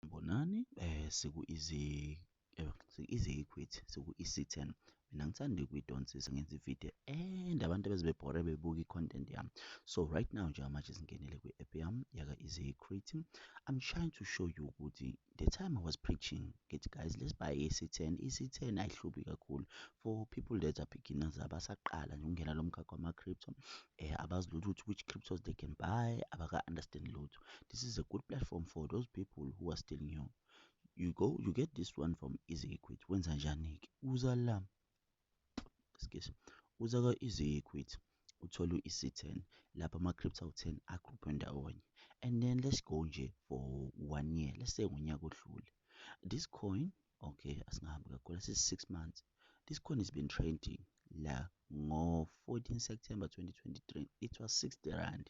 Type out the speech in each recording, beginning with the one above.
Bonani eh siku izi eh, izi equity siku EC10 mina ngithanda ukuyidonsisa ngenza ivideo and abantu beze bebhore bebuka i-content yami so right now njengamanje singenele kwi-app yami yaka easy equity i'm trying to show you ukuthi the time i was preaching ngithi guys let's buy EC10 EC10 ayihlubi kakhulu for people that are beginners abasaqala nje ukungena lo mkhakha wama-crypto eh abazi lutho ukuthi which cryptos they can buy abaka-understand lutho this is a good platform for those people who are still new you go you get this one from easy equity wenza njani-ke uza la excuse uza ka-easy equity uthole u-EC10 lapha ama-crypto 10 agruphe ndawonye and then let's go nje for one year let's say ngonyaka odlule this coin okay asingahambi kakhulu asisi-six months this coin has been trading la ngo-14 september 2023 it was 60 rand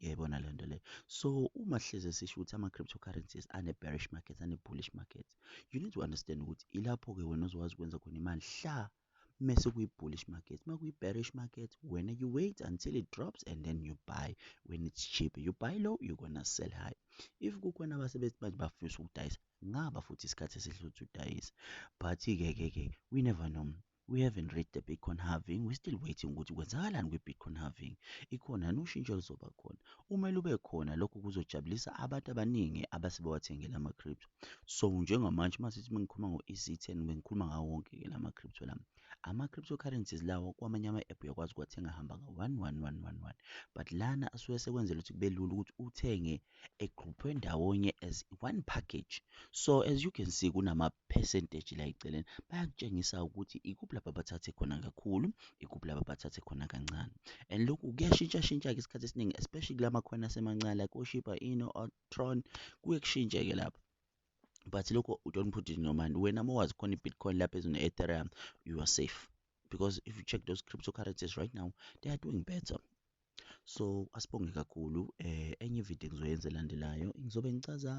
uyayibona le nto leyo so uma hleze sisho ukuthi ama-cryptocurrencies ane-bearish markets ane-bullish markets you need to understand ukuthi ilapho-ke wena ozokwazi ukwenza khona imali hla mese kuyi-bullish market uma kuyi-bearish market wena you wait until it drops and then you buy when it's cheap you buy low you gonna sell high if kukhona abasebenzi manje bafisa ukudayisa ngaba futhi isikhathi esihle ukuthi udayise but-ke ke ke we never know We haven't read the Bitcoin halving, we still waiting ukuthi kwenzakalani kwi-Bitcoin halving. Ikhona yini ushintsho oluzoba khona? Uma lube khona lokho kuzojabulisa abantu abaningi abase bawathengela ama-crypto. So njengamanje uma sithi mengikhuluma ngo-EC10 bengikhuluma ngawo wonke-ke la ma-crypto lami. Ama-cryptocurrencies lawo kwamanye ama-app uyakwazi ukuwathenga hamba ngo-one one one one one but lana asuke sekwenzela ukuthi kube lula ukuthi uthenge egruphwe ndawonye as one package so as you can see kunama percentage la eceleni bayakutshengisa ukuthi ikuphi lapha bathathe khona kakhulu ikuphi lapha bathathe khona kancane and lokhu kuyashintsha shintsha ke isikhathi esiningi especially kulama khona asemancane like oshipa ino otron kuye kushintshe ke lapha but lokho u don't put it in your mind wena uma wazi khona i-bitcoin lapha ezine ethereum you are safe because if you check those cryptocurrencies right now they are doing better so asibonge kakhulu eh enye video engizoyenza elandelayo ngizobe ngicaza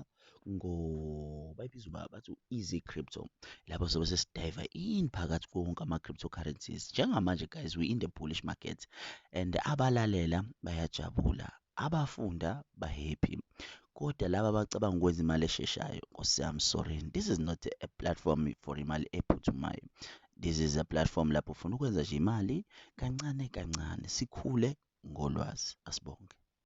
ngo bayibiza uba bathi easy crypto lapho sobe sesidive in phakathi konke ama cryptocurrencies njengamanje guys we in the bullish market and abalalela bayajabula abafunda bahappy kodwa laba abacabanga ukwenza imali esheshayo nkosi yami sorry this is not a platform for imali ephuthumayo This is a platform lapho ufuna ukwenza nje imali kancane kancane sikhule ngolwazi asibonge.